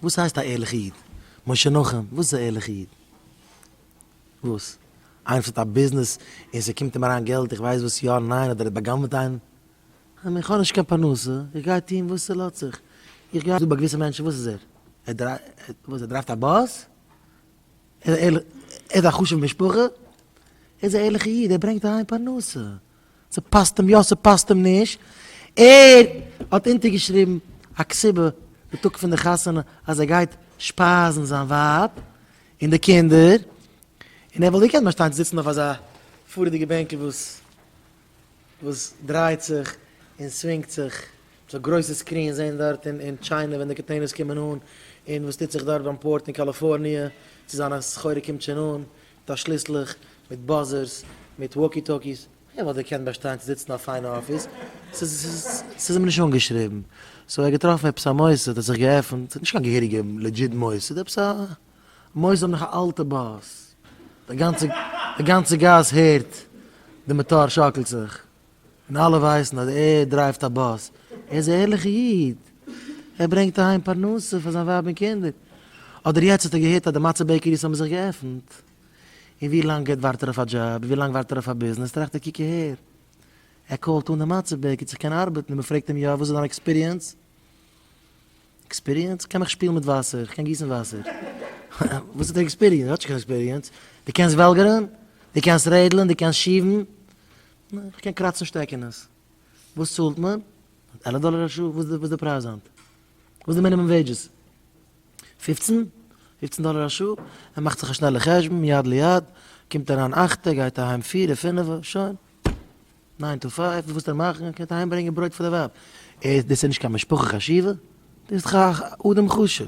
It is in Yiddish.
וואס הייסט א ערליכע איד? משה נחום, וואס איז א ערליכע איד? וואס? איינער וואס האט א ביזנעס און ס'קומט אים אריין געלט איך ווייס וואס יא ניין אדער ער האט בא'גנב'ט איינעם? איך מיין איך האב נישט קיין פרנסה, איך גיי טון וואס ס'לאזט זיך, איך גיי דא ביי געוויסע מענטשן וואס איז ער? ער וואס ער דרייווט א באס? ער איז א ערליכע ער האט א חשוב'ע משפחה? ער איז א ערליכע איד ער ברענגט אהיים פרנסה. ס'פאסט אים יא ס'פאסט אים נישט, ער האט אונטערגעשריבן א כסבה די טאג פון די חתונה אז ער גייט שפייזן זיין ווייב און די קינדער, און ער וואלט געקענט באשטיין צו זיצן אויף אזא פארעדיגע בענקל וואס וואס דרייט זיך און סווינגט זיך, ס'זאל גרויסע סקרינס זען דארט אין אין טשיינע ווען די קאנטעינערס קומען אן, און וואס טוט זיך דארט ביים פארט אין קאליפארניע צו זיינע סחורה קומט שוין אן, דאָס שליסלעך, מיט באַזערס, מיט װאָקי-טאָקיס. ער װאָלט געקענט באַשטײן צו זיצן אַ פֿײַנע אָפֿיס. ס'איז אים נישט אָנגעשריבן. סאָ ער האָט געטראָפֿן עפּעס אַ מוסד, האָט זיך געעפֿנט. ס'איז נישט קײן געהעריגע, לעדזשיט מוסד. עפּעס אַ מוסד מיט אַ אַלטע באַס. די גאַנצע גאַס הערט, די מאָטאָר שאָקלט זיך. און אלע ווייסן אז ער דרייווט א באס, ער איז א ערליכע איד, ער ברענגט אהיים פרנסה פאר זיין ווייב און קינדער, אדער יעצט האט ער געהערט אז די מצה בעקעריס האבן זיך געעפנט, און ווי לאנג ער ווארט ער אויף א דזשאב, ווי לאנג ווארט ער אויף א ביזנעס, טראכט ער קוק אהער, ער קאלט אן די מצה בעקער צו קענען ארבעטן, און מען פרעגט אים יא וואס איז דיין עקספיריענס? עקספיריענס? כ'קען מיך שפילן מיט וואסער, כ'קען גיסן וואסער. וואס איז די עקספיריענס? האט נישט קיין עקספיריענס. דו קענסט וועלגערן? דו קענסט רעדלען? דו קענסט שיבן? נעה, כ'קען קראצן שטעקענעס. וואס צאלט מען? עלף דאלער א שעה? וואס איז די פרייז היינט? וואס איז די מינימום וועידזשעס? פופצן? פופצן דאלער א שעה? ער מאכט זיך א שנעלע חשבון, יד ליד, קומט אריין אכטע, גייט אהיים פירע, פינעווע, שוין. ניין טו פייוו, וואס וועט ער מאכן? ער קען אהיים ברענגען ברויט פאר די ווייב. דאס איז נישט קיין משפחה חשיבה? דו ביסט דאך א אדם חשוב.